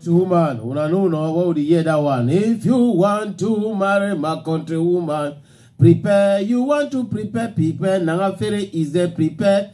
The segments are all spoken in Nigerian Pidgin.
to woman una no know what we hear that one if you want to marry my country woman prepare you want to prepare prepare na fere is there prepare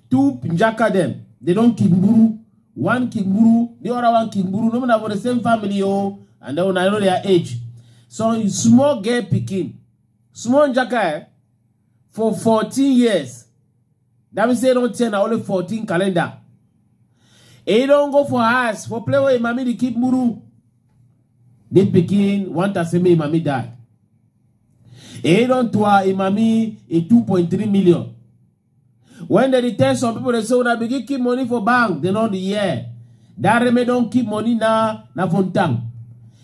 two njaka dem they don kigburu one kigburu the other one kigburu no matter for the same family o oh. and then una know their age so small girl pikin small njaka eh, for fourteen years that mean say don ten na only fourteen calendar e don go for house for play wey mami dey keep muru the pikin want to say make mami die e don to her mami a two point three million When they tell some people, they say, when I begin keep money for bank, they know the year. That remain don't keep money now, na fontang.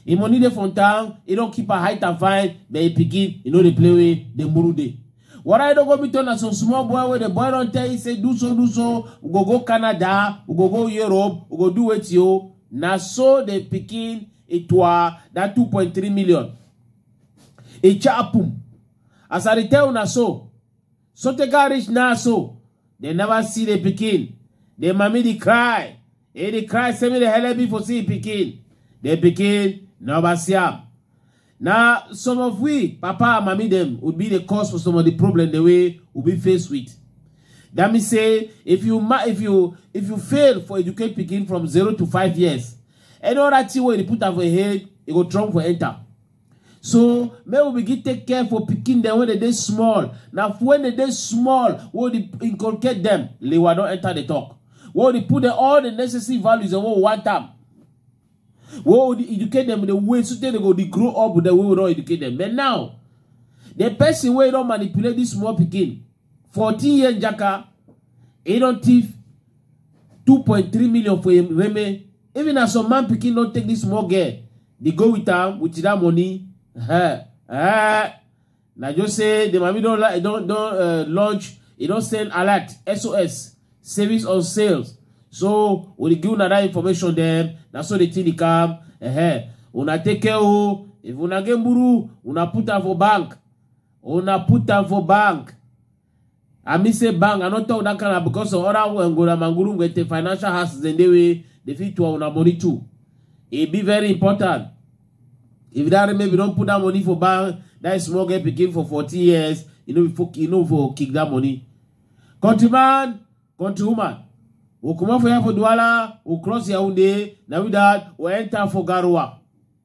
If money dey fontang, he don't keep a height and fine, but he begin, you know, they play with the muru day. What I don't go be turn as some small boy where the boy don't tell you say do so do so we go go Canada we go go Europe we go do it you na so the pikin itwa that 2.3 million e chapum as I dey tell una so So they got rich now, so they never see the pikin. The mommy they cry. Hey, they cry, send me the hell be for see pikin. The pikin never see am. Now, some of we, papa and mommy them, would be the cause for some of the problem the way we be faced with. That means say, if you ma- if you if you fail for educate pikin from zero to five years, any other thing where you put am for head, it go trump for enter. so make we begin take care for pikin dem when dem dey small na when dem dey small wey we dey inculcate dem lewa don enter the talk wey we dey put dem all the necessary values dem wey we want am wey we dey educate dem the way so tey dem go dey grow up with the way we don educate dem but now the person wey don manipulate this small pikin fourteen year njaka he don thief two point three million for him reme Even as some man pikin no take this small girl, they go with am with that money. Eh, eh. Na just say the mami don li- don don uh, launch, e don send alert SOS savings on sales. So we dey give una that information then. Na so the thing dey come. Eh, una take care o. If una get buru, una put am for bank. Una put am for bank. I mean say bang, I no talk that kind of because of other one go na manguru get the financial houses and they way they fit to our money too. It be very important. If that maybe don't put that money for bank, that small girl pikin for 40 years, you know, for, you know, for kick that money. Countryman, countrywoman, we come out for here for Douala, we cross Yaoundé, now with that, we enter for Garoua.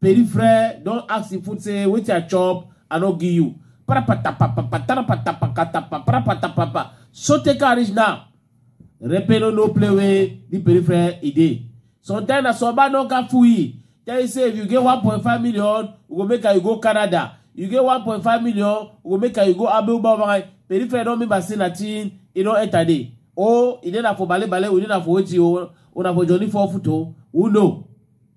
Peripheral don ask him food say wetin I chop I no give you. So take her reach now. Repelo no play wey the peripheral e dey. Sometimes na soba no ka fool e. Tell you say if you get 1.5 million, we go make her you go Canada. You get 1.5 million, we go make her you go Abuja. Peripheral don mean by say na thing e don enter there. Oh, e dey na for bale bale, we dey na for wetin o, una for jolly for foot o. Who know?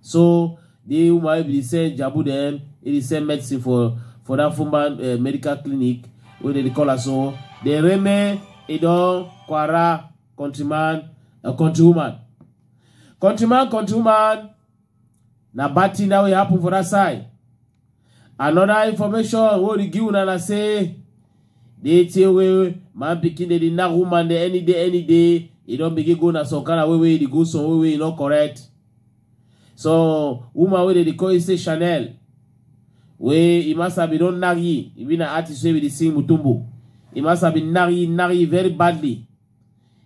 So the woman if they sell jabu dem, if they sell medicine for for that former uh, eh, medical clinic wey they call her so, the remain e don kwara countryman uh, countrywoman countryman countrywoman na bad thing that will happen for that side Another information wey we give una na say the thing wey man pikin dey dey knack woman dey any day any day e don begin go na some kind of way wey e dey go some way wey e no correct. So woman wey dey dey call you say Chanel wey Imasa bin don knack you, e be na artist wey be dey sing Mutombo. Imasa bin knack you knack you very badly.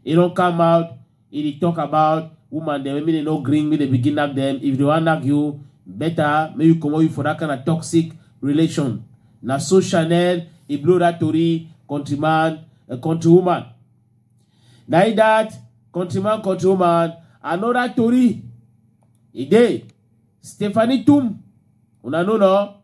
e don come out e dey talk about woman dem make dem no gree make dem begin knack dem if dem wan knack you better make you comot you for that kind of toxic relation na so chanel e blow that tori countryman uh, countrywoman na e that countryman countrywoman another tori e dey stephanie tum una know no